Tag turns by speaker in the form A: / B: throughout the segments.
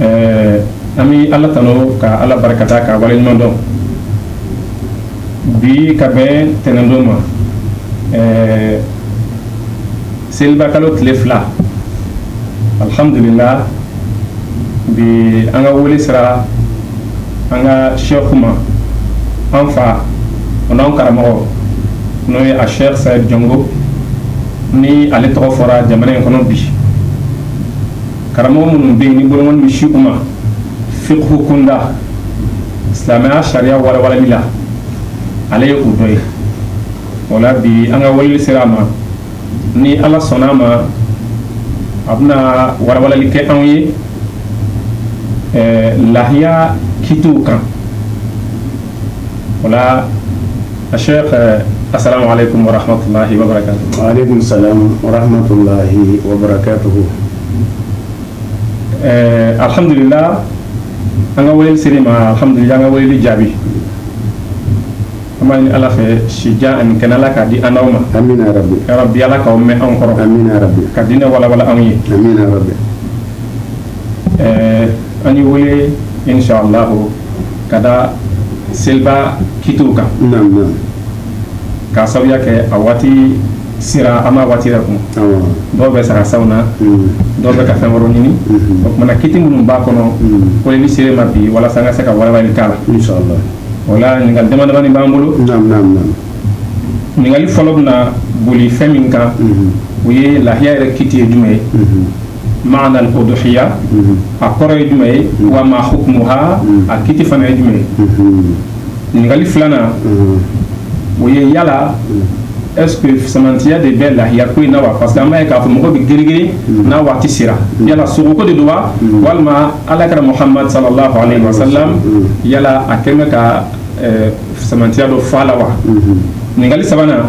A: ɛɛ an bɛ ala tanu ka ala barikada k'a waleɲuman dɔn bi ka bɛn tɛnɛndon ma ɛɛ selibakalo tile fila alhamdulila bi an ka wele sera an ka sɛku ma an fa o n'an karamɔgɔ n'o ye a sɛku sayid jɔngo ni ale tɔgɔ fɔra jamana in kɔnɔ bi karamɔgɔ minnu bɛ yen ni bolonkɔni bɛ sin u ma fiqhu kunda silamɛya sariya walawalali la ale ye u dɔ ye o la bi an ka weleli sera a ma ni ala sɔnna a ma a bɛna walawalali kɛ anw ye lahiya kitiw kan wala a se ka asala ale kun bɔra halahi ale kun sa
B: warahiyi wabakɛbugu ɛɛ
A: alihamdulila an ka wele siri ma alihamdu an ka wele jaabi an b'a ɲini ala fɛ sija ani kɛnɛla k'a di an ma
B: bi ala'aw mɛn
A: anw kɔrɔ ka diinɛ
B: wawa
A: anw ye an y'i wele inshallah ka da seliba kitiw kan ka sababuya kɛ a waati sera an ma waati kun dɔw bɛ saga san na dɔw bɛ ka fɛn wɛrɛ ɲini o tuma na kiti minnu b'a kɔnɔ ko ni sera i ma bi walasa an ka se ka walawalali k'a
B: la wala
A: ɲininkali damadamani b'an bolo ɲininkali fɔlɔ bɛ na boli fɛn min kan u ye lahiya yɛrɛ kiti ye jumɛn ye maana al uduhiya a kɔrɔ ye jumɛn ye wa ma hukumuha a kiti fana ye jumɛn ye ɲininkali filanan o ye yala est-ce que fisamantiya de bɛ lahiya ko in na wa parce que an b'a ye k'a fɔ mɔgɔ bɛ girigiri n'a waati sera yala sogoko de don wa walima ala kira muhamadu sallallahu alayhi wa sallam yala a kɛ bɛ ka fisamantiya dɔ fɔ a la wa ɲininkali sabanan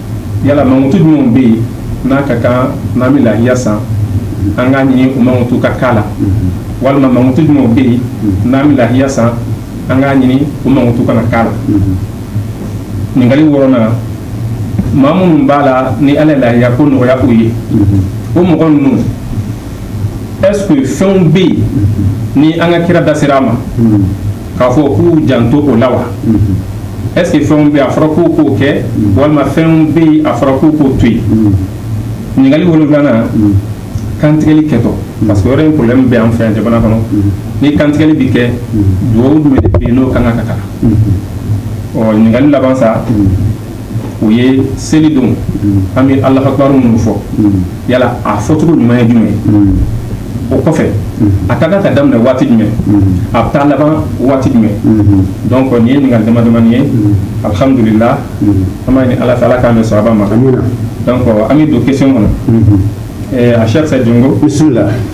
A: yala mankutu jumɛnw bɛ yen n'a ka kan n'an bɛ lahiya san an k'a ɲini o mankutu ka k'a la walima mankutu jumɛnw bɛ yen n'an bɛ lahiya san an k'a ɲini o mankutu kana k'a la ɲininkali wɔɔrɔnan maa minnu b'a la ni ala ye lahiya ko nɔgɔya u ye o mɔgɔ ninnu est ce que fɛnw bɛ yen ni an ka kira da sera a ma k'a fɔ k'u janto o la wa est ce que fɛnw bɛ a fɔra k'u k'o kɛ walima fɛnw bɛ yen a fɔra k'u k'o to yen ɲininkali wolonfilanan kantigɛli kɛtɔ parce que yɔrɔ in problème bɛ an fɛ yan jamana kɔnɔ ni kantigɛli bɛ kɛ dugawu jumɛn de bɛ yen n'o ka kan ka kalan ɔ ɲininkali laban sa o ye selidon an bɛ alahu akibaru minnu fɔ yala a fɔcogo ɲuman ye jumɛn o kɔfɛ a ka kan ka daminɛ waati jumɛn a bɛ taa laban waati jumɛn donc nin ye ɲininkali dama damani ye alhamdulila an b'a ɲini ala fɛ ala k'an bɛn sawaba ma donc an bɛ don question kɔnɔ a cheikh said jɔn bisimila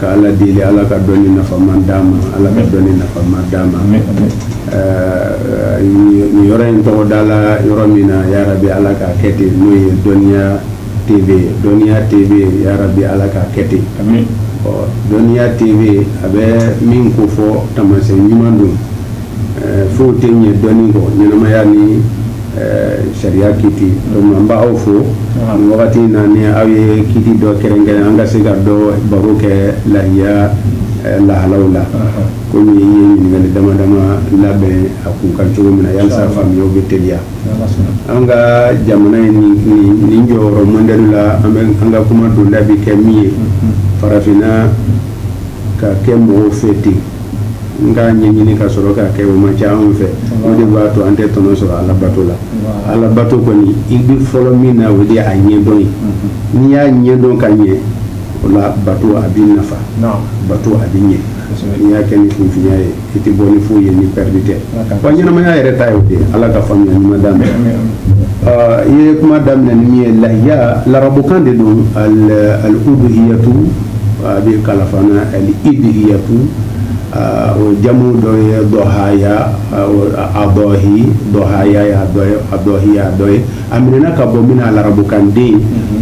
B: ka ala deli ala ka dɔnni nafama d'an ma ala ka dɔnni nafama d'an ma nin yɔrɔ in tɔgɔ dala yɔrɔ min na yarabi ala ka kɛ ten n'o ye dɔnniya tv dɔnniya tv yarabi ala ka kɛ ten dɔnniya tv a bɛ min ko fɔ tamasi ɲuman don foyi tɛ yen dɔnni kɔ ɲɛnamaya ni sariya kiiti an b' aw fo nin wagati in na aw ye kiiti dɔ kɛrɛnkɛrɛn an ka se ka dɔ baro kɛ lahiya lahalaw la komi i ye ɲininkali dama dama labɛn a kun kan cogo min na yalisa faamuya bɛ teliya an ka jamana ye nin jɔyɔrɔ mɔdɛli la an ka kuma donda bɛ kɛ min ye farafinna k'a kɛ mɔgɔw fɛ ten nka ɲɛɲini ka sɔrɔ k'a kɛ o man ca anw fɛ o de b'a to an tɛ tɔnɔ sɔrɔ ala bato la ala bato kɔni i bɛ fɔlɔ min na o de a ɲɛdɔn ye n'i y'a ɲɛdɔn ka ɲɛ o la bato a b'i nafa bato a bɛ ɲɛ n'i y'a kɛ ni kunfinya ye i tɛ bɔ ni foyi ye ni pɛridi tɛ wa ɲɛnamaya yɛrɛ ta ye o de ye ala ka faamuya ɲuman d'an ma i ye kuma daminɛ ni min ye lahiya larabukan de don al-udhiyatu a bɛ kalan fana al-idhiyatu o jamu dɔ ye dɔhaya ayi dɔhaya dɔ ye a minɛna ka bɔ min na larabukan de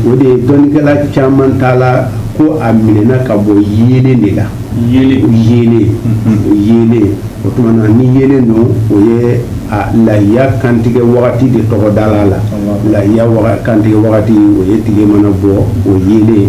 B: o de ye dɔnnikɛla caman ta la ko a minɛna ka bɔ yeelen de la yeelen o tuma na ni yeelen don o ye layiya kantigɛ wagati de tɔgɔ dala layiya kantigɛ wagati o ye tile mana bɔ o ye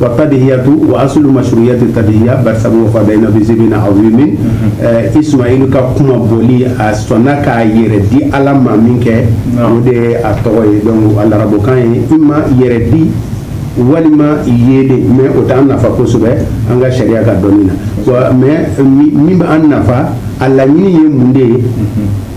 B: wa tadihiyatu wa asulu mashruyati tadihiya barisabu wa fadaynahu bizibhin azimin mhm. ismail ka kunmabɔli a sɔnna k'a yɛrɛ di ala ma min kɛ o de ye a tɔgɔ ye donc a larabukan ye i ma yɛrɛ di walima yeelen mais o t'an nafa kosɛbɛ an ka sariya ka dɔnni na mais min b'an nafa a laɲini ye mun de ye mhm.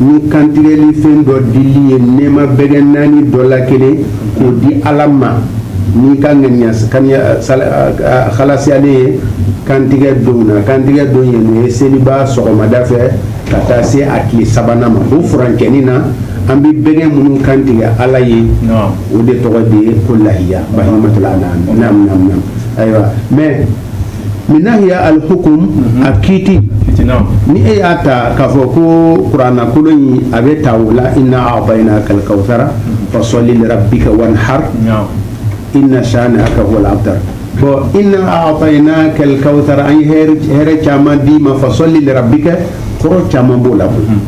B: ni kantigɛli fɛn dɔ dili ye nɛɛma bɛgɛ naani dɔ la kelen k'o di ala ma n'i ka ŋaniya halasiyalen ye kantigɛ don na kantigɛ don ye n'o ye seliba sɔgɔmada fɛ ka taa se a tile sabanan ma o furancɛni na an bɛ bɛgɛ minnu kantigɛ ala ye o de tɔgɔ de ye ko lahiya bahimatul an'am ayiwa mɛ min nahiya al-hukum a kiiti ni e y'a ta k'a fɔ ko kurana kolo in a bɛ ta o la inna a'tainaka al-kawthara fasalli li rabbika wanhar inna shani'aka huwal abtar bon inna a'tainaka al-kawthara an ye hɛrɛ caman d'i ma fasalli li rabbika kɔrɔ caman b'o la koyi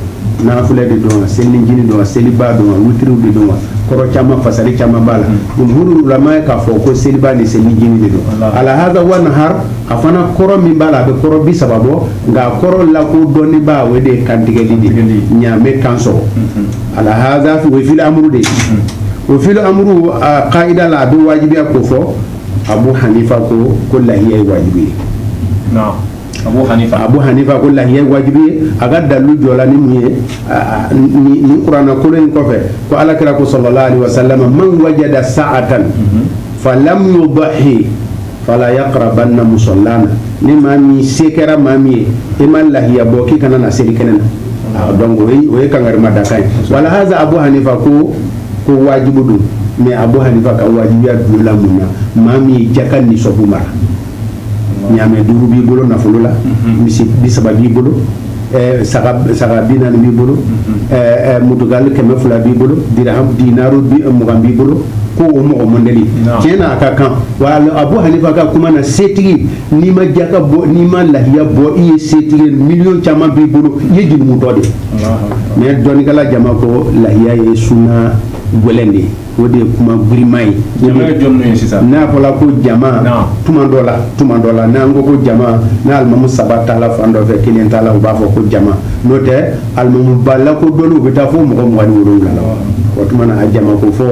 B: nafila de don wa selinjini don wa seliba don wa witiriw de don wa kɔrɔ caman fasari caman b'a la jumhuru ulama ye k'a fɔ ko seliba ni selinjini de don ala haza wanhar a fana kɔrɔ min b'a la a bɛ kɔrɔ bi saba bɔ nka a kɔrɔ lakodɔnnenba o de ye kantigɛli de ye ɲaamɛ kan sɔgɔ ala haza o ye fi'il amru de ye o fi'il amru a kaida la a bɛ wajibiya kofɔ abu hanifa ko lahiya ye wajibi ye hanifa ko lahiya wajibi ye a ka dalu jɔla ni mun ye nin kuranɛ kolo in kɔfɛ ko ala kira ko sallallahu alaihi wasallam man wajada sa'atan falam yudahi fala yaqrabanna musallana ni maa min se kɛra maa min ye i ma lahiya bɔ k'i kana na seli kɛnɛ na donc o ye kankarimadakan ye wala haza abu hanifa ko wajibu don mais abu hanifa ka wajibiya dulonna mun na maa min ye jaka nisɔbu mara ɲaamɛ duuru b'i bolo nafolo la mhm. misi bi saba b'i bolo eh, saga bi naani b'i bolo mhm. eh, eh, mutugali kɛmɛ fila b'i bolo dirham dinaru mugan b'i bolo ko o mɔgɔ modɛli tiɲɛ na a ka kan wa abu hanifa ka kuma na setigi n'i ma jaka bɔ n'i ma lahiya bɔ i ye setigi miliyɔn caman b'i bolo i ye jurumutɔ de mais dɔnnikɛla jama ko lahiya ye sunna gwɛlɛn de ye o de ye kuma girinma ye n'a fɔra ko jama tuma dɔ la n'an ko ko jama n'alimamu saba taala fan dɔ fɛ kelen t'a la u b'a fɔ ko jama n'o tɛ alimamuba lakodɔnnen u bɛ taa fo mɔgɔ mugan ni wolonwula la o tuma na a jama kofɔ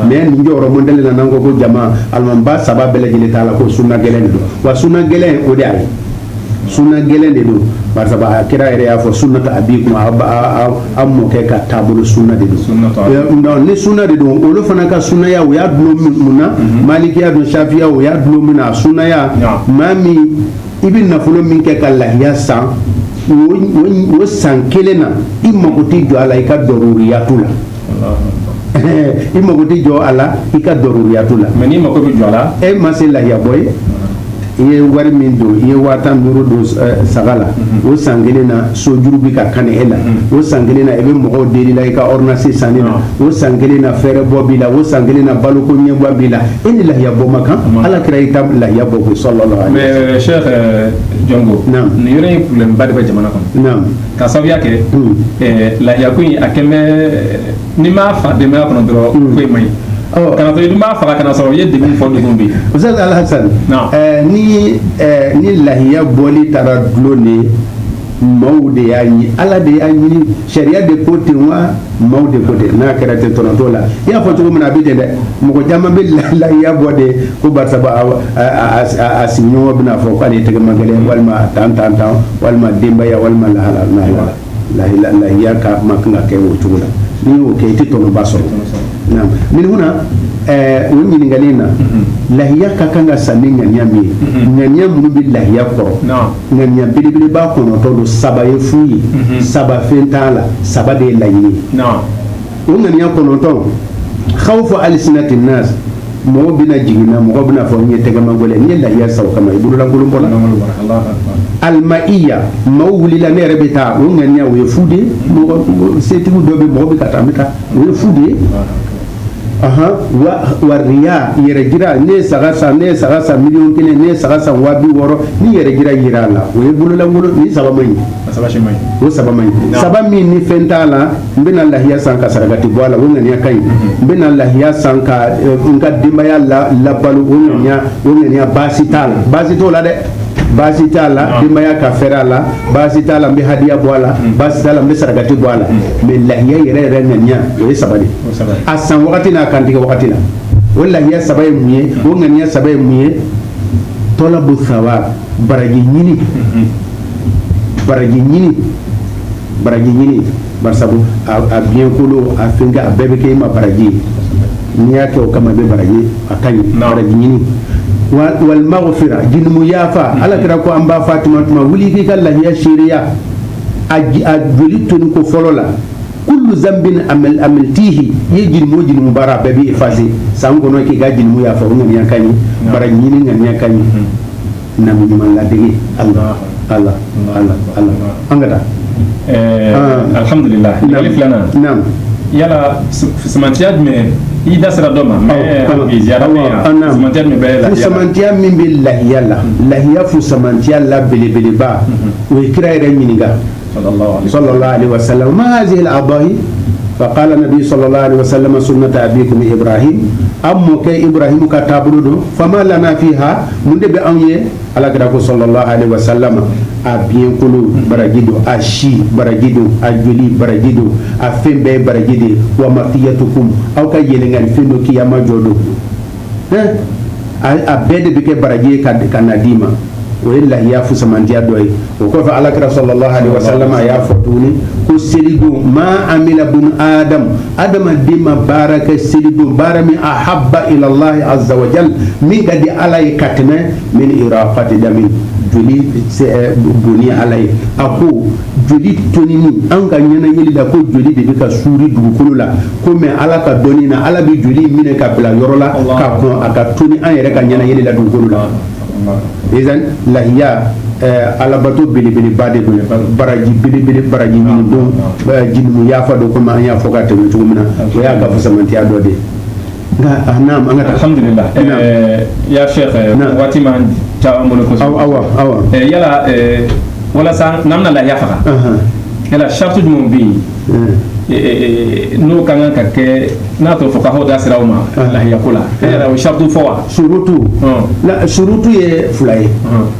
B: mais nin jɔyɔrɔ modɛli la n'an ko ko jama alimamuba saba bɛɛ lajɛlen taala ko sunna gɛlɛn don wa sunna gɛlɛn o de ye sunna gɛlɛn de don barisa a kira yɛrɛ y'a fɔ sunnata abikum a mɔkɛ ka taabolo sunna de don ni sunna de don olu fana ka sunnaya u y'a dulon mun na mhm. malikiya don safiya u y'a dulon mun na a sunnaya maa min i bɛ nafolo min kɛ ka lahiya san o san kelen na i mago tɛ jɔ a la i ka dɔruriyatu la i mago tɛ jɔ a la i ka dɔruriyatu la mais n'i mago bɛ jɔ a
A: la e ma se lahiya bɔ
B: ye i ye wari min don i ye waa tan duuru don eh, saga la mhm. o san kelen na sojuru bɛ ka kani e la mhm. o san kelen na i bɛ mɔgɔw deli la i ka ordonnance sanni na o san kelen na fɛɛrɛbɔ b'i la o san kelen na baloko ɲɛbɔ b'i la e ni lahiya bɔ ma kan ala kira i ta lahiya bɔ ko sallallahu alaihi wasallam. mais Cheikh eh,
A: Jɔnko nin yɔrɔ in problème ba de bɛ jamana kɔnɔ. ka sababuya kɛ lahiya ko in a kɛlen bɛ n'i m'a fa denbaya kɔnɔ dɔrɔn ko in man ɲi kana sɔrɔ i dun b'a faga kana sɔrɔ i ye degun fɔ degun bɛ yen Oustaz
B: Alhassan ni ni lahiya bɔli taara dulon de maaw de y'a ɲini Ala de y'a ɲini sariya de ko ten wa maaw de ko ten n'a kɛra ten tɔnɔ t'o la i y'a fɔ cogo min na a bɛ ten dɛ mɔgɔ caman bɛ lahiya bɔ de ko barisa a sigiɲɔgɔn bɛna fɔ k'ale ye tɛgɛmagɛlɛn walima tan tan tan walima denbaya walima lahala lahala lahiya lahiya ka man kan ka kɛ o cogo la n'i y'o kɛ i tɛ tɔnɔba sɔrɔ naam min huna ɛɛ o ɲininkali in na lahiya ka kan ka san ni ŋaniya min ye ŋaniya minnu bɛ lahiya kɔrɔ ŋaniya belebeleba kɔnɔntɔ don saba ye fu ye mhm. saba fɛn t'a la saba de ye laɲini o ŋaniya kɔnɔntɔn khawfu alsinati nas mɔgɔ bɛna jigin n na mɔgɔ bɛna fɔ n ye tɛgɛmagɛlɛn ye lahiya san o kama i bololankolon bɔla almaiya maaw wulila ne yɛrɛ bɛ taa o ŋaniya o ye fu de ye mɔgɔ setigiw dɔ bɛ mɔgɔ bɛ ka taa n bɛ taa o ye fu de ye wa riya yɛrɛjira ne ye saga san ne ye saga san miliyɔn kelen ne ye saga san waa biwɔɔrɔ ni yɛrɛjira jira a la o ye bololankolon nin saba man ɲi o saba man ɲi saba min ni fɛn t'a la n bɛna lahiya san ka sarakati bɔ a la o ŋaniya ka ɲi n bɛna lahiya san ka n ka denbaya labalo o ŋaniya o ŋaniya baasi t'a la baasi t'o la dɛ baasi t'a la denbaya ka fɛɛrɛ a la baasi t'a la n bɛ hadiya bɔ a la baasi t'a la n bɛ sarakati bɔ a la mais lahiya yɛrɛ yɛrɛ ŋaniya o ye saba de a san wagati n'a kantigɛ wagati la o lahiya saba ye mun ye o ŋaniya saba ye mun ye talabu sawab baraji ɲini baraji ɲini baraji ɲini barisabu a biɲɛkolo a fɛnkɛ a bɛɛ bɛ kɛ i ma baraji ye n'i y'a kɛ o kama i bɛ baraji a ka ɲi baraji ɲini wal maghfira junumu yafa ala kira ko an ba Fatumata ma wuli k'i ka lahiya seereya a joli toni ko fɔlɔ la kullu zambin amil amiltihi i ye junumu o junumu baara bɛɛ bɛ efase san kɔnɔ k'i ka junumu yafa o ŋaniya ka ɲi baraji ɲini ŋaniya ka ɲi nabi ɲuman ladege ala ala ala ala an ka taa eh, ah. alhamdulillah
A: ɲininkali filanan naam yala fusamantiya jumɛn i da sera dɔ ma mais ziyada bɛ yan fusamantiya jumɛn bɛ lahiya
B: la fusamantiya min bɛ lahiya la lahiya fusamantiya la belebeleba u ye kira yɛrɛ ɲininka sala makanzela a ba ye fa ko ala bi sɔrɔ la wa sala sunina ta a bi kun bɛra a mɔkɛ i bɔra ka taabolo don fa la fi ha mun de bɛ anw ye ala kira ko sɔrɔ la ali wa sala a bikolo baraji don a si baraji don a joli baraji don a fɛn bɛɛ ye baraji de ye wa ma i ya to kun aw ka yɛlɛkanfɛn don k'iyama jɔ don a bɛɛ de bɛ kɛ baraji ye ka na d'i ma o ye lahiya fusamantiya dɔ ye o kɔfɛ ala kira sallallahu alaihi wasallam a y'a fɔ tuguni ko selidon ma amila bunu adama adamaden ma baara kɛ selidon baara min ahabba ila allahi azza wa jal min ka di ala ye ka tɛmɛ min iraqati damin joli bonni ala ye a ko joli tonini an ka ɲɛnajɛli la ko joli de bɛ ka suuri dugukolo la ko mais ala ka dɔnni na ala bɛ joli minɛ ka bila yɔrɔ la ka kɔn a ka toni an yɛrɛ ka ɲɛnajɛli la dugukolo la izan lahiya eh, alabato belebeleba de don baraji belebele baraji ɲini don eh, junumu yafa don komi an y'a fɔ ka tɛmɛ cogo min na o y'a ka fusamantiya dɔ de ye
A: Alihamdulila ya sheikh waati man ca an bolo kosɛbɛ yala walasa n'an bɛna lahiya faga yala shartu jumɛn bɛ yen n'o ka kan ka kɛ n'a tɔ fɔ k'aw da sera o ma lahiyako la yala o shartu fɔ wa surutu
B: surutu ye fila ye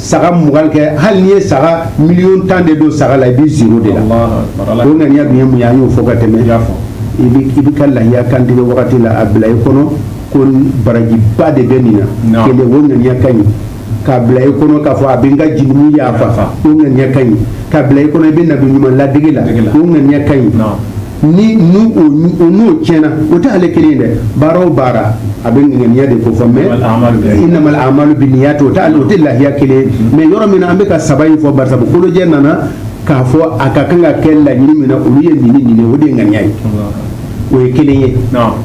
B: saga mugan kɛ hali n'i ye saga miliyɔn tan de don saga la i bɛ zero de la o ŋaniya dun ye mun ye an y'o fɔ ka tɛmɛ i bɛ ka lahiya kantigɛ wagati la a bila i kɔnɔ ko barajiba de bɛ nin na kelen o ŋaniya ka ɲi k'a bila i kɔnɔ k'a fɔ a bɛ n ka junumu yafa o ŋaniya ka ɲi k'a bila i kɔnɔ i bɛ nabi ɲuman ladege la o ŋaniya ka ɲi ni n'o tiɲɛna o tɛ ale kelen ye dɛ baara o baara a bɛ ŋaniya de kɔfɛ mais innamal a'malu binniyat o tɛ lahiya kelen ye mais yɔrɔ min na an bɛ ka saba in fɔ barisa kolojɛ nana k'a fɔ a ka kan ka kɛ laɲini min na olu ye nin nin o de ye ŋaniya ye o ye kelen ye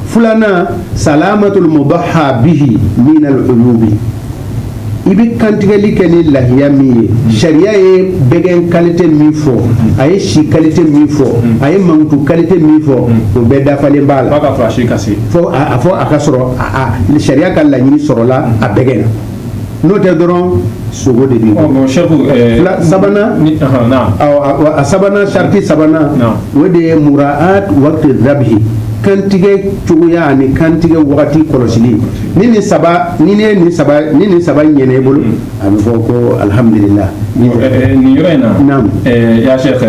B: filanan salamatul mudahha bihi minal uyubi i bɛ kantigɛli kɛ ni lahiya min ye sariya ye bɛgɛn kalite min fɔ a ye si kalite min fɔ a ye mankutu kalite min fɔ o bɛɛ dafalen b'a la fɔ a fɔ a ka sɔrɔ sariya ka laɲini sɔrɔla a bɛgɛn na n'o tɛ dɔrɔn sogo de b'i bolo sabanan a sabanan sarati sabanan o de ye muraat waqti dhabhi kantigɛ cogoya ani kantigɛ wagati kɔlɔsili ni nin saba ɲɛna i ni nin saba ɲɛna i bolo a bɛ fɔ ko alihamudulila
A: nin yɔrɔ in na ya sheikh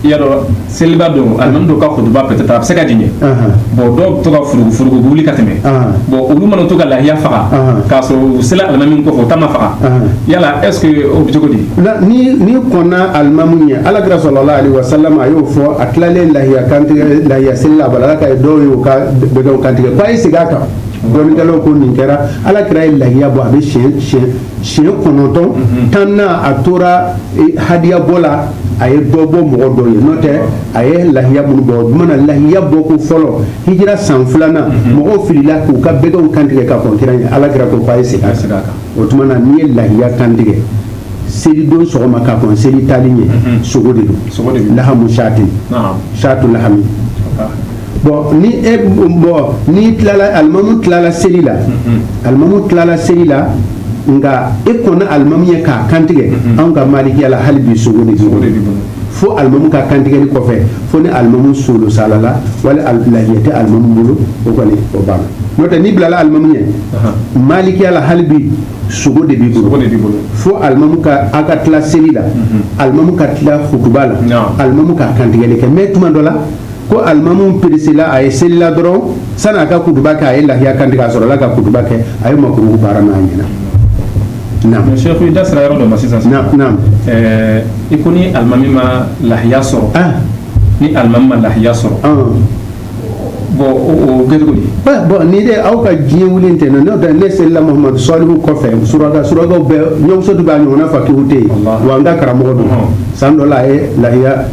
A: y'a dɔn seliba don alimami dɔ ka kutuba peut-être a bɛ se ka durer bon dɔw bɛ to ka furugu furugu wuli ka tɛmɛ bon olu mana to ka lahiya faga k'a sɔrɔ u sela alimami min kɔfɛ o ta ma faga yala est ce que o bɛ cogo di la ni n'i kɔnna alimamu ɲɛ ala kira sallallahu alaihi wasallam a y'o fɔ a tilalen lahiya kantigɛ lahiya seli la bala ala ka ye dɔw ye o ka bɛgɛw kantigɛ ko a ye segin a kan dɔnnikɛlaw ko nin kɛra ala kira ye lahiya bɔ a bɛ siɲɛ siɲɛ siɲɛ kɔnɔntɔn tan na a tora hadiya bɔ la a ye dɔ bɔ mɔgɔ dɔw ye n'o tɛ a ye lahiya minnu bɔ o tuma na lahiya bɔ ko fɔlɔ hijira san filanan mɔgɔw filila k'u ka bɛgɛw kantigɛ ka kɔn kira ɲɛ ala kira ko k'a ye segin a kan o tuma na n'i ye lahiya kantigɛ selidon sɔgɔma ka kɔn seli taali ɲɛ mhm. sogo de don lahamu sati shatu lahami bɔn ni e bɔn n'i tilala alimamu tilala seli la mhm. alimamu tilala seli la nka e kɔnna alimamu ɲɛ k'a kantigɛ mhm. anw ka malikiya la hali bi sogo de b'i bolo fo alimamu ka kantigɛli kɔfɛ fo ni alimamu solo salala wala lahiya tɛ alimamu bolo o kɔni o banna n'o tɛ n'i bilala alimamu ɲɛ malikiya la hali bi sogo de b'i bolo fo alimamu ka a ka tila seli la alimamu ka tila hutuba la alimamu ka kantigɛli kɛ mais tuma dɔ la ko alimamu peresela a ye selila dɔrɔn sani a ka kutuba kɛ a ye lahiya kan tigɛ a sɔrɔla ka kutuba kɛ a ye makuruhu baara n'a ɲɛna naam sheikh i da sera yɔrɔ dɔ ma sisan naam naam
B: ɛɛ i
A: ko ni alimami ma lahiya sɔrɔ ah ni alimami ma lahiya sɔrɔ ah bɔn o kɛ cogo di bɔn ni de
B: aw ka diɲɛ wuli tɛ na n'o tɛ ne selila mahamadu salihu kɔfɛ suraka surakaw bɛɛ ɲɔmuso de b'a ɲɔgɔnna fakihu tɛ yen wa n ka karamɔgɔ don san dɔ la a ye lahiya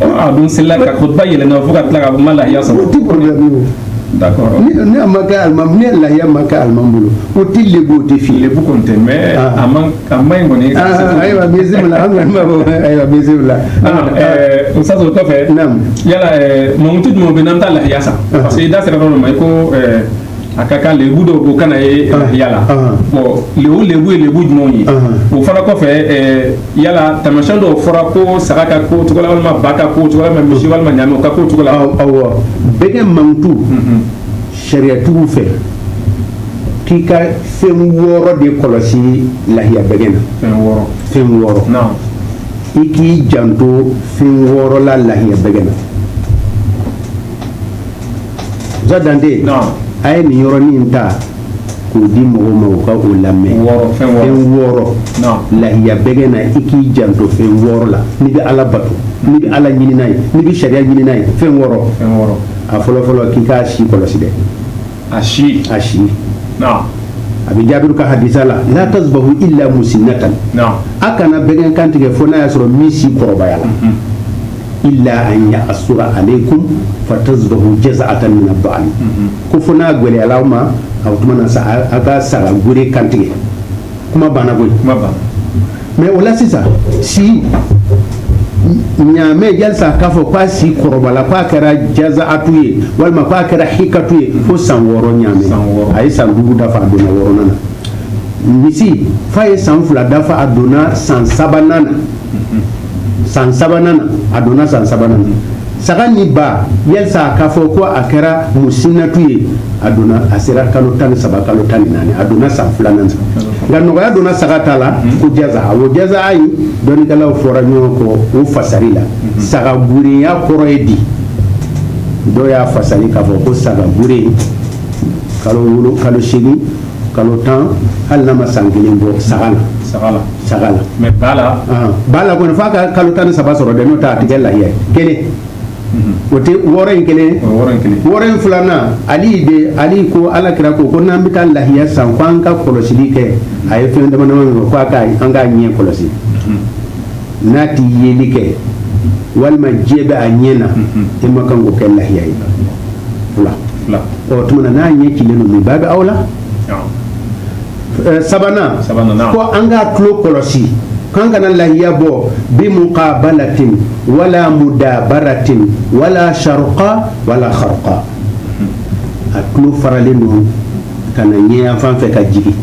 A: a dun selila ka kutuba yɛlɛna fo ka tila a ma lahiya sɔrɔ o tɛ problème
B: ye o d'accord n'a ma kɛ alimami ni lahiya ma kɛ alimami bolo o tɛ lebu o tɛ fi lebu kɔni tɛ mais
A: a man a man ɲi kɔni ayiwa bisimila
B: an kɔni b'a fɔ ayiwa
A: bisimila o sasa o kɔfɛ yala mankutu jumɛn bɛ n'an ta lahiya sa parce que i da sera dɔ ma i ko a ka kan lebu dɔw ko kana ye lahiya la bon lebu lebu ye lebu jumɛnw ye o fana kɔfɛ yala taamasiyɛn dɔw fɔra ko saga ka ko cogo walima ba ka ko cogo walima misi walima ɲaamɛ ka ko cogo la awɔ
B: bɛgɛ mankutu mm-hmm. sariyatigiw fɛ k'i ka fɛn wɔɔrɔ de kɔlɔsi lahiya bɛgɛ na fɛn wɔɔrɔ i k'i janto fɛn wɔɔrɔ la lahiya bɛgɛ na ja dante a ye nin yɔrɔnin ta k'o di mɔgɔw ma ka o lamɛn fɛn wɔɔrɔ lahiya bɛgɛ na i k'i janto fɛn wɔɔrɔ la n'i bɛ ala bato n'i bɛ ala ɲini n'a ye n'i bɛ sariya ɲini n'a ye fɛn wɔɔrɔ a fɔlɔfɔlɔ k'i k'a si kɔlɔsi dɛ a si a si a bɛ jaabiru ka hadisa la la tasbahu illa musinnatan a kana bɛgɛ kantigɛ fo n'a y'a sɔrɔ min si kɔrɔbayala illa an ya'sura alaikum fa tazbahu jaza'atan min ad-da'n ko fo n'a gwɛlɛyala aw ma a tuma na sa a ka saga gure kantigɛ kuma banna koyi kuma banna mais o la sisan si ɲaamɛ yalisa k'a fɔ k'a si kɔrɔbala k'a kɛra jazaatu ye walima k'a kɛra hikatu ye fo san wɔɔrɔ ɲaamɛ a ye san duuru dafa a donna wɔɔrɔnan na misi f'a ye san fila dafa a donna san sabanan na san sabanan a donna san sabanan na saga ni ba yalisa k'a fɔ ko a kɛra musinnatu ye a donna a sera kalo tan ni saba kalo tan ni naani a donna san filanan nka nɔgɔya donna saga ta la hmm. ko jazaa ko jaza ayi dɔnnikɛlaw fɔra ɲɔgɔn kɔ o fasari la hmm. saga gurenya kɔrɔ ye di dɔw y'a fasari k'a fɔ ko saga gure kalo wolonwula kalo seegin kalo tan hali n'a ma san kelen bɔ saga la saga
A: la mais ba la ah, ba la kɔni f'a
B: ka kalo tan ni saba sɔrɔ dɛ n'o tɛ a tɛ kɛ lahiya ye kelen mhm. o tɛ wɔɔrɔ in kelen wɔɔrɔ in filanan ali de ali ko ala kira ko ko n'an bɛ taa lahiya san ko an ka kɔlɔsili kɛ a ye fɛn dama dama min fɔ ko an k'a ɲɛ kɔlɔsi mhm. n'a ti yeli kɛ walima jɛ bɛ a ɲɛ na mhm. e ma kan k'o kɛ lahiya ye fila o tuma na n'a ɲɛ cilen don min babi awla sabanan ko an k'a tulo kɔlɔsi k'an kana lahiya bɔ bi muqabalatin wala mudabaratin wala sharuqa wala kharuqa a tulo faralen don ka na ɲɛyanfan fɛ ka jigin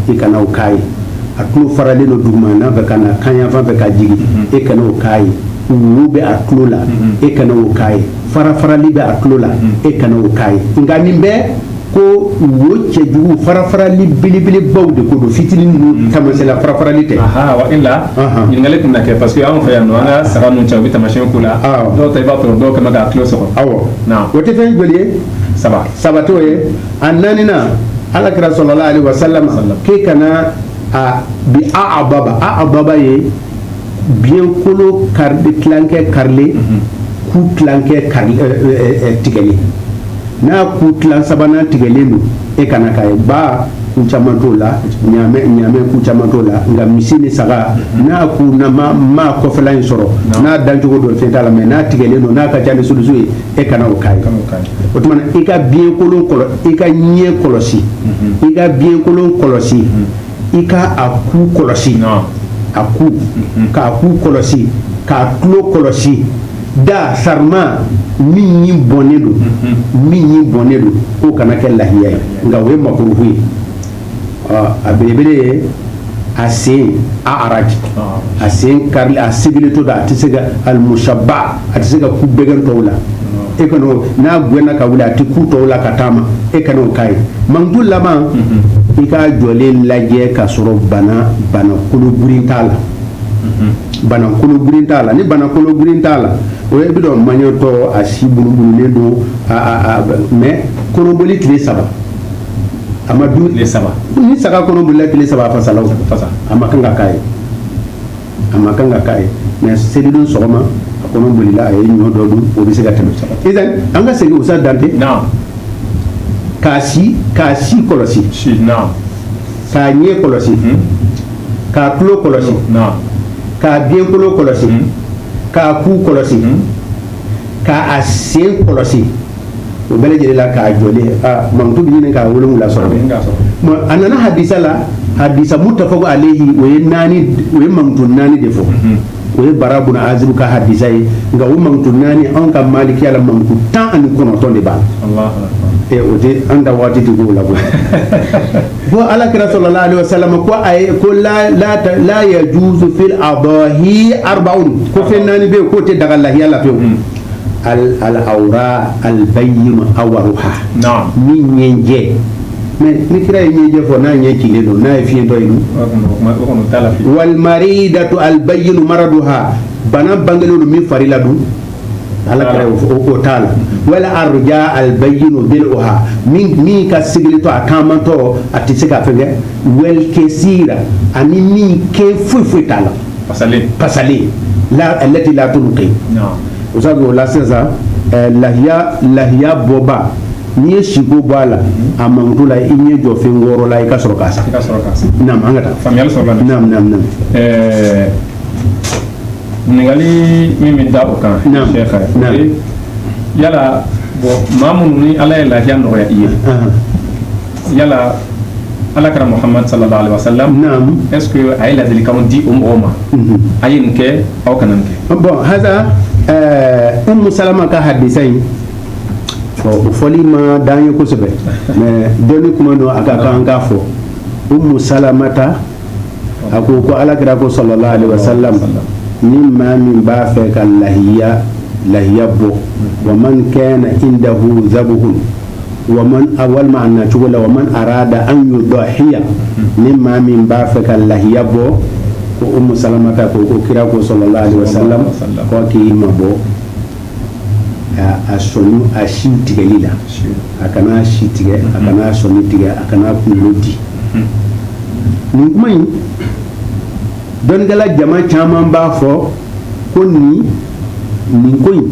B: i kana o k'a ye a tulo faralen don dugumana fɛ ka na kanyanfan fɛ ka jigin e kana o k'a ye wo bɛ a tulo la e kana o k'a ye farafarali bɛ a tulo la e kana o k'a ye nka nin bɛɛ ko wo cɛjugu farafarali belebelebaw de ko don fitinin ninnu tamasela farafarali tɛ aha wa illa
A: ɲininkali tun na kɛ parce que anw fɛ yan nɔ an ka saga ninnu cɛ u bɛ taamasiyɛn k'u la dɔw ta i b'a sɔrɔ dɔw kɛmɛ k'a tulo sɔgɔ awɔ o tɛ
B: fɛn joli ye saba saba t'o ye a naaninan ala kira sallallahu alaihi wasallam k'e kana a bi a'adaba a'adaba ye biyɛnkolo tilankɛ karilen ku tigɛlen n'a ku tilan sabanan tigɛlen don e kana k'a ye ba ku caman t'o la ɲaamɛ ku caman t'o la nka misi ni saga n'a ku na ma a kɔfɛla in sɔrɔ n'a dancogo don fɛn t'a la mɛ n'a tigɛlen don n'a ka ca ni sulusu ye e kana o k'a ye o tuma i ka biyɛnkolo kɔlɔsi i ka ɲɛ kɔlɔsi i ka biyɛnkolo kɔlɔsi i ka a ku kɔlɔsi a ku k'a ku kɔlɔsi k'a tulo kɔlɔsi da sarima min ɲin bɔnnen don min ɲin bɔnnen don k'o kana kɛ lahiya ye nka o ye makurufu ye a belebele ye a sen a araji a sen karili a sigilen to da a tɛ se ka alimusaba a tɛ se ka kun bɛgɛn tɔw la e kana n'a gɛnna ka wuli a tɛ ku tɔw la ka taama e kana o k'a ye mankutu laban i k'a jɔlen lajɛ k'a sɔrɔ bana bana kologirin t'a la bana kologirin t'a la ni bana kologirin t'a la o ye bi dɔn maɲatɔ a si bunubunulen don mɛ kɔnɔboli tile saba a ma dun tile saba ni saga kɔnɔbolila tile saba a fasala fasa a ma kan ka k'a ye a ma kan ka k'a ye mɛ selidon sɔgɔma a kɔnɔbolila a ye ɲɔ dɔ dun o bɛ se ka tɛmɛ saba an ka segin usa dante k'a si k'a si kɔlɔsi k'a ɲɛ kɔlɔsi k'a tulo kɔlɔsi k'a biɲɛkolo kɔlɔsi k'a ku kɔlɔsi k'a a sen kɔlɔsi o bɛɛ lajɛlen la k'a jɔlen aa mankutu bɛ ɲini ka wolonwula sɔrɔ dɛ a nana hadisa la hadisa mutafakun alayhi o ye naani o ye mankutu naani de fɔ o ye bara bun azibu ka hadisa ye nka o mankutu naani anw ka malikiya la mankutu tan ani kɔnɔntɔn de b'a la ee o tɛ an da waati tɛ k'o la koyi ko ala kira sɔlɔla alayhi wa salama ko a ye ko la la ta la yajuzu fil adahi arbaun ko fɛn naani bɛ yen k'o tɛ daga lahiya la pewu alawura alibayinu awaruha ni ɲɛjɛ mɛ ni kira ye ɲɛjɛ fɔ n'a ɲɛ cilen don n'a ye fiɲɛtɔ ye wali maridatu alibayinu maraduha bana bangelen don min fari la don ala kira y'o t'a la wala arja alibayinu daluha min ka sigilen to a taamantɔ a tɛ se ka fɛn kɛ wali kasira ani min kɛn foyi foyi t'a la pasalen alati la tunki o sabu o la sisan lahiya lahiya bɔba n'i ye si ko bɔ a la a mankutu la i ɲɛ jɔ fɛn wɔɔrɔ la i ka sɔrɔ k'a san naam an ka taa
A: ɲininkali min bɛ da o kan yala bon maa minnu ni ala ye lahiya nɔgɔya u ye yala ala kira muhamadu sallallahu alaihi wasallam naam est ce que
B: a ye
A: ladilikanw di o mɔgɔw ma mhm. a ye nin kɛ aw kana nin kɛ bon hasa
B: eh, umu salama ka hadisa in o fɔli man d'an ye kosɛbɛ mais dɔnni kuma don a ka kan k'a fɔ umu salamata a ko ko ala kira ko sallallahu alaihi wasallam ni maa min b'a fɛ ka lahiya lahiya bɔ wa man kana indahu zabuhun wa man walima a na cogo la wa man arada an yudahiya ni maa min b'a fɛ ka lahiya bɔ ko umu salamata ko ko kira ko sallallahu alaihi wasallam ko k'i mabɔ a sɔni a si tigɛli la a kana si tigɛ a kana sɔni tigɛ a kana kunkolo di nin kuma in dɔnnikɛla jama caman b'a fɔ ko nin nin ko in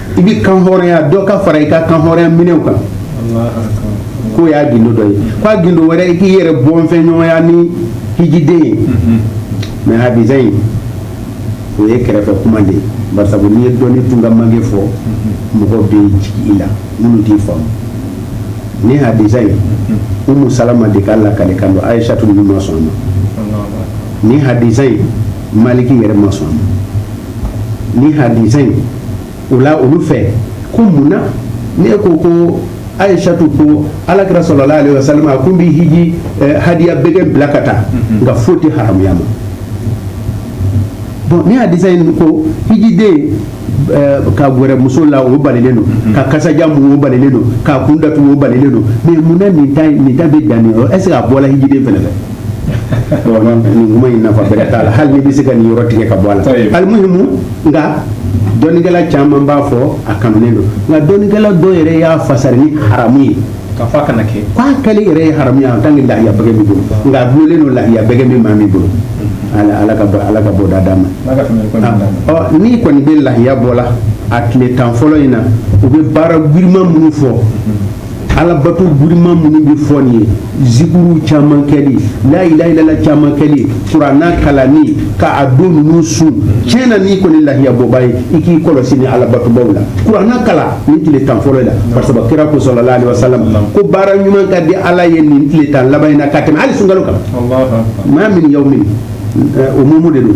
B: i bɛ kan hɔrɔnya dɔ ka fara i ka kan hɔrɔnya minɛw kan k'o y'a gindo dɔ ye k'a gindo wɛrɛ i k'i yɛrɛ bɔnfɛn ɲɔgɔnya ni hijiden ye mais hadisa in o ye kɛrɛfɛ kuma de ye barisa n'i ye dɔnni tun ka mange fɔ mɔgɔ bɛ jigin i la minnu t'i faamu ni hadisa in umu salama de ka lakalikan don ayisatu ninnu ma sɔn a ma ni hadisa in maliki yɛrɛ ma sɔn a ma ni hadisa in o la olu fɛ ko mun na ne ko ko ayisatu ko ala kira sallallahu alaihi wasallam a kun bɛ hiji eh, hadiya bɛgɛ bila ka taa mm-hmm. nka foyi tɛ haramuya ma bon ni hadisa in ko hijiden eh, ka gɛrɛ muso la o balilen don mm-hmm. ka kasajan mun o balilen don k'a kun datugu o balilen don mais mun na nin ta nin ta bɛ dan nin yɔrɔ est ce que a bɔla hijiden fɛnɛ fɛ. nin kuma in nafa bɛrɛ t'a la hali ni bɛ se ka nin yɔrɔ tigɛ ka bɔ a la alimuhimu nka dɔnnikɛla caman b'a fɔ a kanunen don nka dɔnnikɛla dɔw yɛrɛ y'a fasari ni haramu ye k'a fɔ a kana kɛ
A: k'a kɛli yɛrɛ ye haramu
B: ye en tant que lahiya bɛgɛ b'i bolo nka a dulolen don lahiya bɛgɛ bɛ maa min bolo ala ala ka bɔ ala ka bɔ da d'a ma ala ka tɛmɛ ko ɲuman d'a ma. ɔ n'i kɔni bɛ lahiya bɔ la a tile tan fɔlɔ in na u bɛ baara girinman minnu fɔ alabato girinman minnu bɛ fɔ nin ye zikuru caman kɛli la ilaha illallah caman kɛli kuranna kalanni ka a don ninnu sun tiɲɛ na n'i kɔni lahiyabɔba ye i k'i kɔlɔsi ni alabatobaw la kuranna kalan ni tile tan fɔlɔ la parce que kira ko sallallahu alaihi wasallam ko baara ɲuman ka di ala ye nin tile tan laban in na ka tɛmɛ hali sunkalo kan maa min yawmin umumu de don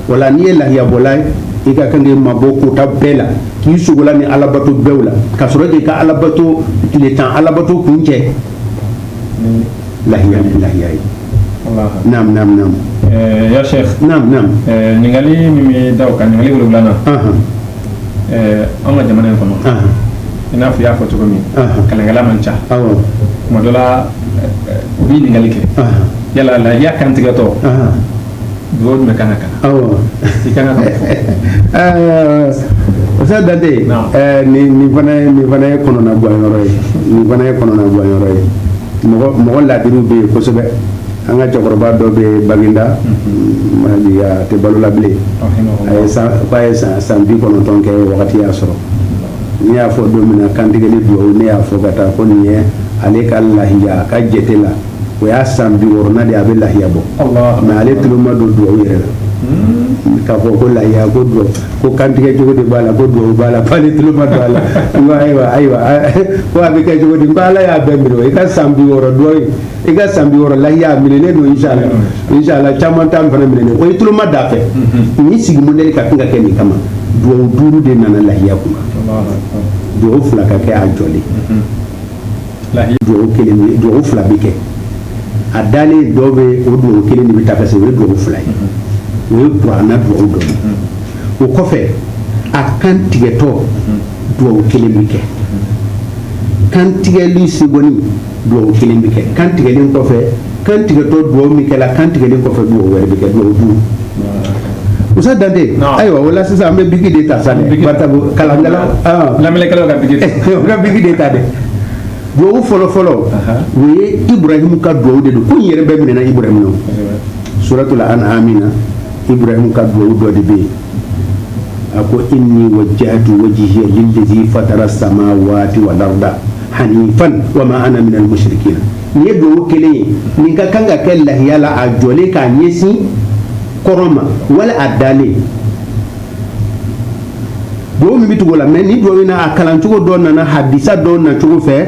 B: wala n'i ye lahiyabɔla ye i ka kan k'i mabɔ kota bɛɛ la k'i sogola ni alabato bɛɛw la ka sɔrɔ k'i ka alabato tile tan alabato kuncɛ lahiya ni lahiya ye naam naam naam eh,
A: ya sheikh naam naam eh,
B: ɲininkali min
A: bɛ da o kan ɲininkali wolonwulanan eh, an ka jamana in kɔnɔ i n'a fɔ i y'a fɔ cogo min kalankɛla man ca tuma dɔ la u bɛ ɲininkali kɛ yala lahiya kantigɛtɔ dugawu jumɛn kan ka kalan awɔ i kan ka fɔ ɛɛ Ustaz Dante
B: Naam. ɛɛ nin nin fana ye nin fana ye kɔnɔna guwanyɔrɔ ye nin fana ye kɔnɔna guwanyɔrɔ ye mɔgɔ mɔgɔ laadiriw bɛ yen kosɛbɛ an ka cɛkɔrɔba dɔ bɛ yen Baginda ma jigin a tɛ balo la bilen a ye san f'a ye san san bi kɔnɔntɔn kɛ wagati y'a sɔrɔ ne y'a fɔ don min na kantigɛli dugawu ne y'a fɔ ka taa ko nin ye ale ka lahiya a ka jate la o y'a san bi wɔɔrɔnan de a bɛ lahiya bɔ mais ale tulo ma don dugawu yɛrɛ la hmm. k'a fɔ ko lahiya ko dugawu ko kantigɛ cogo de b'a la ko dugawu b'a la k'ale tulo ma don a la n ko ayiwa ayiwa ko a bɛ kɛ cogo di n ko ala y'a bɛɛ minɛ i ka san bi wɔɔrɔ dugawu i ka san bi wɔɔrɔ lahiya a minɛlen don insala hmm. insala caman t'an fana minɛlen o ye tulo ma da fɛ hmm. nin sigi mɔdɛli ka kan ka kɛ nin kama dugawu duuru de nana lahiya kunna dugawu fila ka kɛ a jɔlen kelen dugawu fila bɛ kɛ a dalen dɔw bɛ o dugawu kelen de bɛ ta parce o ye dugawu fila ye o ye kurana dugawu dɔ o kɔfɛ a kan tigɛtɔ dugawu kelen bɛ kɛ kantigɛli segɔni dugawu kelen bɛ kɛ kan tigɛlen kɔfɛ kan tigɛtɔ dugawu min kɛra kan tigɛlen kɔfɛ dugawu wɛrɛ bɛ kɛ dugawu duuru ustaz dante ayiwa o la sisan an bɛ biki de ta sa dɛ batabu kalankala lamɛnnikɛlaw ka
A: biki u ka biki de
B: ta dɛ dugawu fɔlɔ fɔlɔ o ye iburahimu ka dugawu de don ko in yɛrɛ bɛɛ minɛna iburahimu na suratul an'ami na iburahimu ka dugawu dɔ de bɛ yen a ko inni wajjahtu wajhiya lillazi fatara samawati wal arda hanifan wa ma ana min al mushrikin nin ye duwawu kelen ye nin ka kan ka kɛ lahiya la a jɔlen k'a ɲɛsin kɔrɔn ma wala a dalen duwawu min bɛ tugu o la mais ni duwawu in na a kalancogo dɔ nana hadisa dɔ na cogo fɛ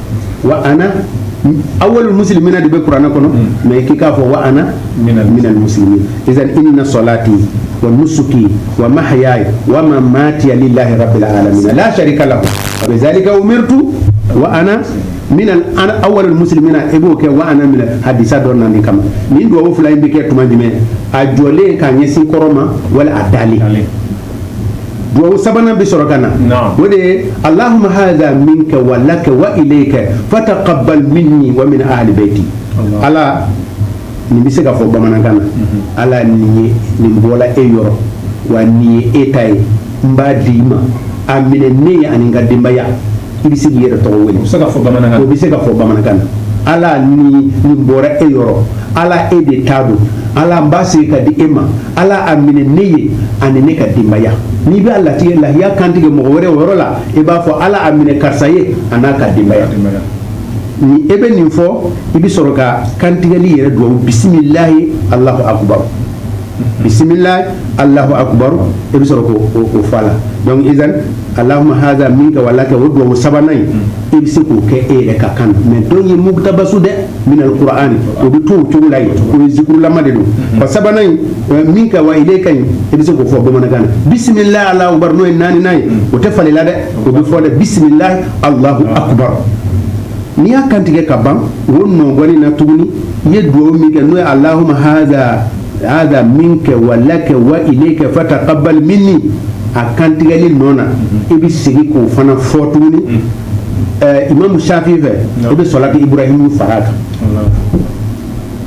B: wa ana awwalul muslimina de bɛ kuranɛ kɔnɔ mais k'i k'a fɔ wa ana minal muslimin izan inna salati wa nusuki wa mahyaya wa mamati lillahi rabbil alamin la sharika lahu wa bi zalika umirtu wa ana min awwalul muslimina i b'o kɛ wa ana mina hadisa dɔ nali kama nin dugawu fila in bɛ kɛ tuma jumɛn a jɔlen k'a ɲɛsin kɔrɔn ma wala a dalen duwawu sabanan bɛ sɔrɔ ka na Naam. o de ye allahumma hadha minka wa laka wa ilayka fataqabbal minni wa min ahli bayti Allah. ala nin bɛ se ka fɔ bamanankan na ala nin ye nin bɔla e yɔrɔ wa nin ye e ta ye n b'a di i ma a minɛ ne ye ani n ka denbaya i bɛ se k'i yɛrɛ tɔgɔ wele o bɛ se ka fɔ bamanankan na ala nin bɔra e yɔrɔ ala e de ta don ala n b'a segin ka di e ma ala a minɛ ne ye ani ne ka denbaya n'i b'a latigɛ lahiya kantigɛ mɔgɔ wɛrɛ o yɔrɔ la i b'a fɔ ala a minɛ karisa ye a n'a ka denbaya ni e bɛ nin fɔ i bɛ sɔrɔ ka kantigɛli yɛrɛ dugawu bisimilahi alahu akubaru bisimila alahu akubar i bɛ sɔrɔ k'o fɔ a la dɔnku izan alahuma haza minka wa laka o dugawu sabanan in i bɛ se k'o kɛ e yɛrɛ ka kan mɛ dɔw ye mukutabasu dɛ minal kurani o bɛ to o cogo la yen o ye zikurulama de don wa sabanan in minka wa ilayka i bɛ se k'o fɔ bamanankan na bisimila alahu akubar n'o ye naaninan ye o tɛ falen dɛ o bɛ fɔ dɛ bisimila alahu akubar n'i y'a kantigɛ ka ban o nɔgɔni na tuguni i ye dugawu min kɛ n'o ye alahuma haza minka wa laka wa ilayka fatakabal minni a kantigɛli nɔ na i bɛ segin k'o fana fɔ tuguni imamu safi fɛ i bɛ salati iburahimu fara a kan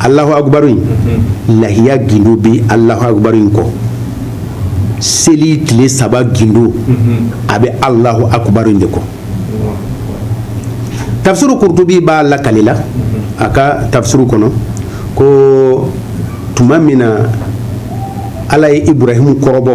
B: alahu akubaru in lahiya gindo bɛ alahu akubaru in kɔ seli tile saba gindo a bɛ alahu akubaru in de kɔ tafsiru kurutubi b'a lakali la a ka tafsiru kɔnɔ ko tuma min na ala ye iburahimu kɔrɔbɔ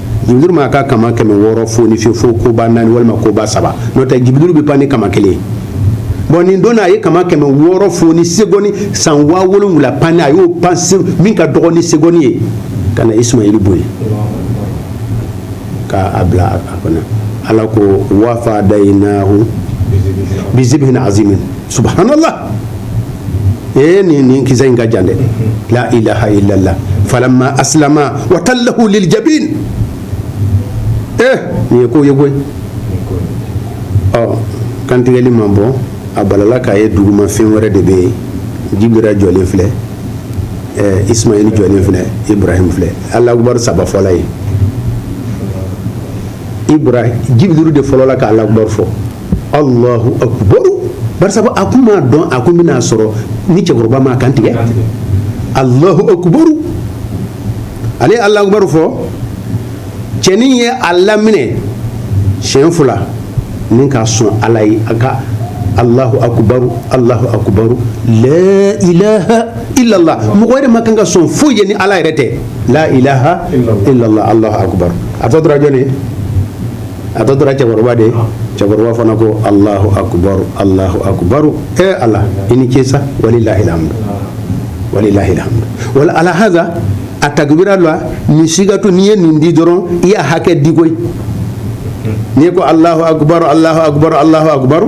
B: jibiri m'a ka kama kɛmɛ wɔɔrɔ foni fiyew fo koba naani walima koba saba n'o tɛ jibiri bɛ pan ni kama kelen bon nin don na a ye kama kɛmɛ wɔɔrɔ foni segɔni san waa wolonwula panni a y'o pan min ka dɔgɔ ni segɔni ye ka na isumayeli bɔ yen ka a bila a kɔnɔ ala ko wa fadayinahu bizibhin azimin subhanallah ee nin nin kisa in ka jan dɛ la ilaha illallah falamma aslama wa tallahu lil jabin ee nin ye ko ye koyi ɔ kantigɛli ma bɔ a balala k'a ye duguma fɛn wɛrɛ de bɛ yen jibiril jɔlen filɛ ɛɛ ismail jɔlen filɛ ibrahim filɛ ala akubar saba fɔla ye ibrahim jibirilu de fɔlɔla ka ala akubar fɔ Alahu akibaru bari sabu a kun m'a dɔn a kun bɛn'a sɔrɔ ni cɛkɔrɔba m'a kan tigɛ Alahu akibaru ale ye Alahu akibaru fɔ cɛnin ye a laminɛ siɲɛ fila nin ka sɔn Ala ye a ka Alahu akibaru Alahu akibaru laa ilaha ilala mɔgɔ wɛrɛ man kan ka sɔn foyi ye ni Ala yɛrɛ tɛ laa ilaha ilala Alahu akibaru a tɔ tora jɔni ye a tɔ tora cɛkɔrɔba de ye cɛkɔrɔba fana ko alahu akubaru alahu akubaru e eh, ala i ni ce sa walilahi alhamdu walilahi alhamdu wala ala haza a takibira la nin sigatu n'i ye nin di dɔrɔn i y'a hakɛ di koyi n'i ko alahu akubaru alahu akubaru alahu akubaru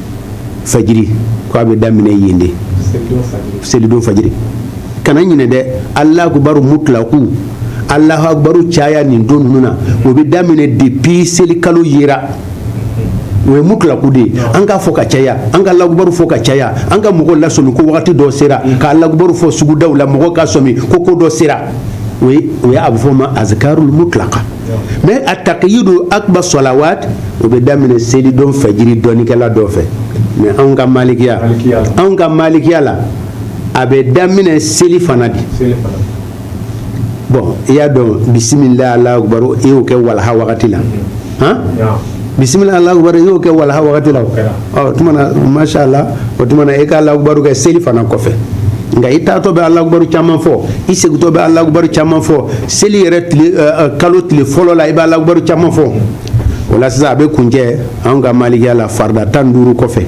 B: fajiri ko a bɛ daminɛ yen de selidon fajiri kana ɲinɛ dɛ alahu akubaru mutlaku alahu akubaru caya nin don ninnu na o bɛ daminɛ depuis selikalo yera o ye mutlaku de ye an k'a fɔ ka caya an k'alakubaru fɔ ka caya an ka mɔgɔ lasɔmi ko wagati dɔ sera k'alakubaru fɔ sugudaw la mɔgɔ ka sɔmi ko ko dɔ sera o ye o ye a bɛ fɔ o ma azkarul mutlaka mais a takiyidu akuba solawat o bɛ daminɛ selidon fajiri dɔnnikɛla dɔ fɛ mais anw ka malikiya anw ka malikiya la a bɛ daminɛ selifana de bon i y'a dɔn bisimila alakubaru i y'o kɛ walaha wagati la han bisimila alakubaru i y'o kɛ walaha wagati la o tuma na masha Allah o tuma na e ka Allahu akibaru kɛ selifana kɔfɛ nka i taatɔ bɛ Allahu akibaru caman fɔ i segintɔ bɛ Allahu akibaru caman fɔ seli yɛrɛ tile kalo tile fɔlɔ la i bɛ Allahu akibaru caman fɔ o la sisan a bɛ kuncɛ anw ka malikiya la farida tan ni duuru kɔfɛ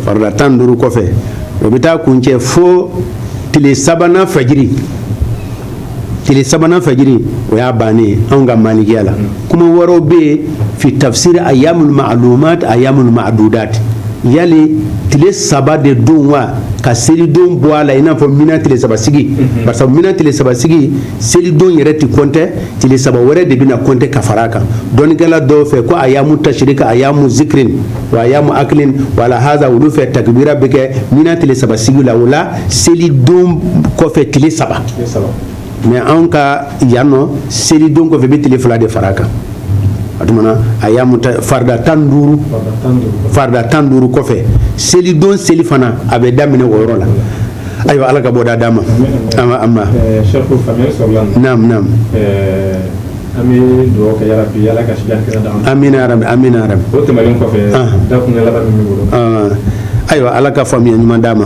B: farida tan ni duuru kɔfɛ o bɛ taa kuncɛ fo tile sabanan fajiri tile sabanan fajiri o y'a bannen ye anw ka malikiya la kuma wɛrɛw bɛ yen fi tafsiri ayamul ma'lumat ayamul ma'dudat yali tile saba de don wa ka selidon bɔ a la i n'a fɔ mina tile saba sigi mhm. barisa mina tile saba sigi selidon yɛrɛ ti kɔntɛ tile saba wɛrɛ de bɛna kɔntɛ ka fara a kan dɔnnikɛla dɔw fɛ ko ayamu tasirika ayamu zikirin wa ayamu akilin wala haza olu fɛ takibira bɛ kɛ mina tile saba sigi la o la selidon kɔfɛ tile saba mais anw ka yan nɔ selidon kɔfɛ bɛ tile fila de fara a kan o tuma na a y'a farida tan ni duuru farida tan ni duuru kɔfɛ selidon selifana a bɛ daminɛ o yɔrɔ la ayiwa ala ka bɔda d'a ma an bɛ dugawu kɛ yarabi ya ala ka sijan kɛnɛya d'an ma
A: amina yarabi amina yarabi o
B: tɛmɛnen kɔfɛ
A: dakun laban min bolo ayiwa
B: ala ka faamuya ɲuman d'a ma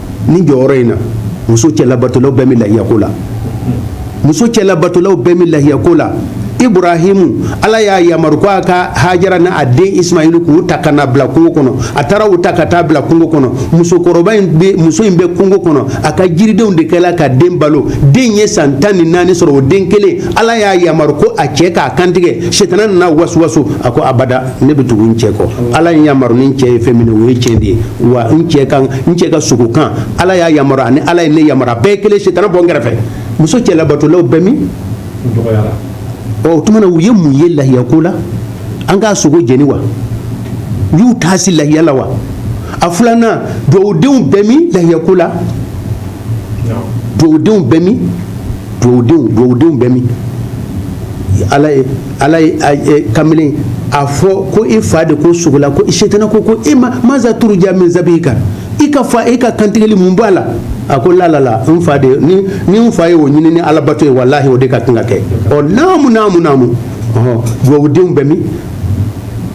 B: ni jɔyɔrɔ in na muso cɛlabatolaw bɛɛ bɛ lahiyako la muso cɛlabatolaw bɛɛ bɛ lahiyako la iburahimu ala y'a yamaru ko a ka hajara ni a den ismaili k'u ta ka na bila kungo kɔnɔ a taara u ta ka taa bila kungo kɔnɔ musokɔrɔba in bɛ muso in bɛ kungo kɔnɔ a ka jiridenw de kɛla ka den balo den ye san tan ni naani sɔrɔ o den kelen ala y'a yamaru ko a cɛ k'a kantigɛ setana nana wasuwasu a ko abada ne bɛ tugu n cɛ kɔ ala ye yamaru ni n cɛ ye fɛn min o ye tiɲɛ de ye wa n cɛ ka sogo kan ala y'a yamaru ani ala ye ne yamaru a bɛɛ ye kelen setana bɔ n kɛrɛfɛ muso cɛlabatolaw bɛ min ɔ o tuma na u ye mun ye lahiya ko la an k'a sogo jeni wa u y'u taasi lahiya la wa a filanan duwawudenw bɛ min lahiya ko la duwawudenw bɛ min duwawudenw bɛ min ala ye ala ye kamalen a fɔ ko i fa de ko sogo la ko setana ko ko e maza turuja min zabihika i ka fɔ e ka kantigɛli mun b'a la a ko lalala n fa de ni n fa ye o ɲini ni ala bato ye walayi o de ka kan ka kɛ ɔ naamumu naamumu duwawudenw bɛ min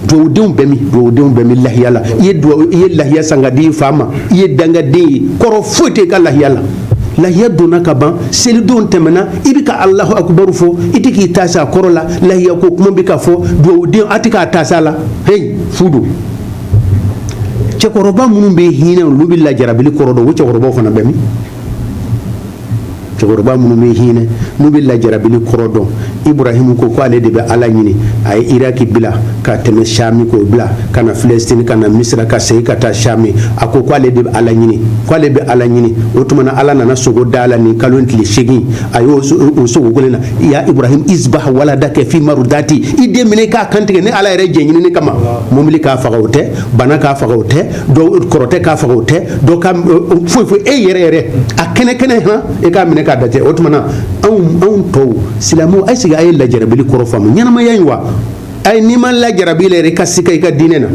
B: duwawudenw bɛ min duwawudenw bɛ min lahiya la i ye duwawu i ye lahiya san ka di i fa ma i ye dangaden ye kɔrɔ foyi tɛ i ka lahiya la lahiya donna ka ban selidon tɛmɛna i bɛ ka alahu akubaru fɔ i tɛ k'i taasi a kɔrɔ la lahiya ko kuma bɛ ka fɔ duwawuden a tɛ k'a taasi a la heyi fu don cɛkɔrɔba minnu bɛ hinɛ olu bɛ lajarabili kɔrɔ dɔn o cɛkɔrɔbaw fana bɛ min cɛkɔrɔba minnu bɛ hinɛ n'u bɛ lajarabili kɔrɔ dɔn iburahimu ko ko ale de bɛ ala ɲini a ye iraki bila ka tɛmɛ shami k'o bila ka na filɛsitini ka na misira ka segin ka taa shami a ko ko ale de bɛ ala ɲini ko ale bɛ ala ɲini o tuma na ala nana sogo d'a la nin kalo tile seegin a y'o sogo kelen na ya ibrahim izbah waladaka fi marudati i den minɛ k'a kantigɛ ne ala yɛrɛ jɛn ɲinini kama mobili k'a faga o tɛ bana k'a faga o tɛ kɔrɔtɛ k'a faga o tɛ foyi fo e yɛrɛ yɛrɛ a kɛnɛ kɛnɛ e k'a minɛ k'a da o tuma na anw tɔw silamɛw a y'i sigi a ye lajarabili kɔrɔ faamu ɲɛnamaya in wa ayi n'i ma lajarabi yɛrɛ i ka sika i ka diinɛ na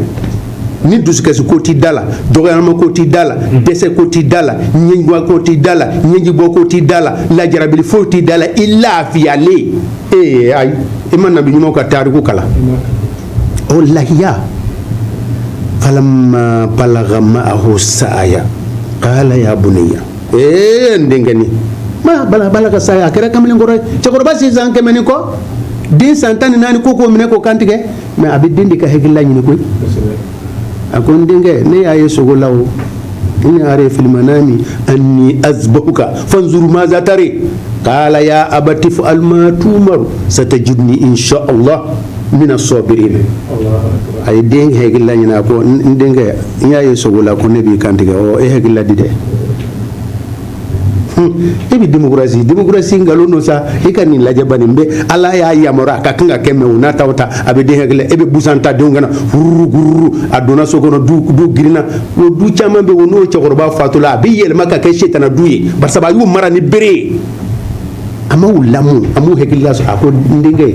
B: ni dusukasi ko t'i da la dɔgɔyama ko t'i da la dɛsɛ ko t'i da la ɲɛjugu ko t'i da la ɲɛjibɔ ko t'i da la lajarabili foyi t'i da la i lafiyalen ee ayi i ma nabi ɲumanw ka tariku kalan o lahiya falamma balagha ma'ahu sa'aya qala ya bunayya ee n denkɛnin ma balagha sa'aya a kɛra kamalen kɔrɔ ye cɛkɔrɔba si san kɛmɛ ni kɔ den san tan ni naani ko k'o minɛ k'o kantigɛ mais a bɛ den de ka hakilila ɲini koyi a ko n denkɛ ne y'a ye sogo la o inni ara fil manami anni azbahuka fanzur maza tara qala ya abati if'al ma tumaru satajiduni insha Allah mina sabirin a ye den hakilila ɲini a ko n denkɛ n y'a ye sogo la ko ne b'i kantigɛ ɔ e hakilila di dɛ e bɛ démocratie démocratie nkalon don sa e ka nin lajɛ bani bɛ ala y'a yamaru a ka kan ka kɛ mais o n'a ta o ta a bɛ den hakilila e bɛ busan ta denw kanna fururukuru a donna so kɔnɔ du du girinna o du caman bɛ o n'o cɛkɔrɔba fatula a bɛ yɛlɛma ka kɛ setana du ye barisa a y'u mara ni bere ye a m'u lamɔ a m'u hakilila sɔrɔ a ko n denkɛ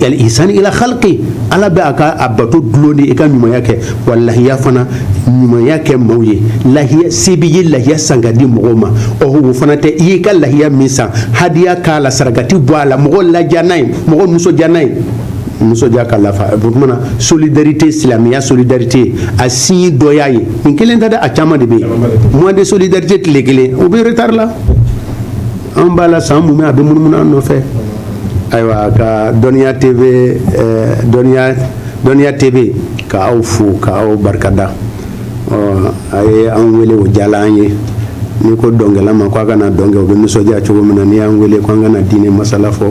B: yali ihsani ila khalqi ala bɛ a ka a bato dulon de i ka ɲumanya kɛ wa lahiya fana ɲumanya kɛ maaw ye lahiya se b'i ye lahiya san ka di mɔgɔw ma ɔhɔ o fana tɛ i y'i ka lahiya min san hadiya k'a la sarakati bɔ a la mɔgɔ ladiya n'a ye mɔgɔ nisɔndiya n'a ye nisɔndiya ka lafa o tuma na solidarité silamɛya solidarité a signe dɔ y'a ye nin kelen tɛ dɛ a caman de bɛ yen mois de solidarité tile kelen o bɛ retard la an b'a la san mumɛ a bɛ munumunu an nɔfɛ ayiwa ka dɔnniya tv ka aw fo ka aw barikada a ye an wele o diyala an ye n'i ko dɔnkɛla ma ko a ka na dɔn kɛ o bɛ nisɔndiya cogo min na n'i y'an wele ko an ka na diinɛ masala fɔ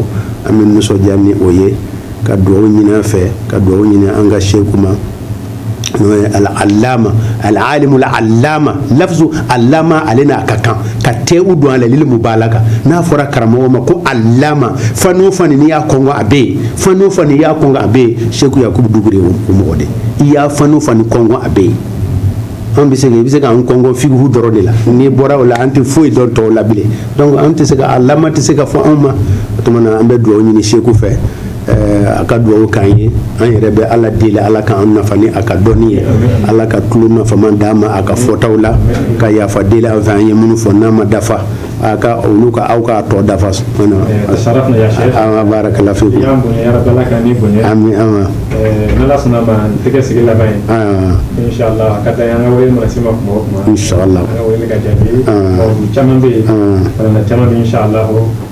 B: an bɛ nisɔndiya ni o ye ka dugawu ɲini a fɛ ka dugawu ɲini an ka seku ma n'o ye al'alama al'alimul alama lafzu alama ale n'a ka kan ka tɛwu don a la lil mubalaga n'a fɔra karamɔgɔ ma ko alama fani o fani n'i y'a kɔnkɔn a bɛ yen fani o fani n'i y'a kɔnkɔn a bɛ yen seku yakubu dukure o mɔgɔ de i y'a fani o fani kɔnkɔn a bɛ yen an bɛ se i bɛ se k'an kɔnkɔn fikihu dɔrɔn de la n'i bɔra o la an tɛ foyi dɔn tɔw la bilen donc an tɛ se ka alama tɛ se ka fɔ anw ma o tuma na an bɛ dugawu ɲini seku fɛ a ka dugawu k'an ye an yɛrɛ bɛ ala deli ala k'an nafa ni a ka dɔnni ye ala ka tulo nafaman d'an ma a ka fɔtaw la ka yafa deli a fɛ an ye minnu fɔ n'a ma dafa a ka olu ka aw k'a tɔ dafa barakala fikum amin inshallah caman bɛ yen
A: caman inshallah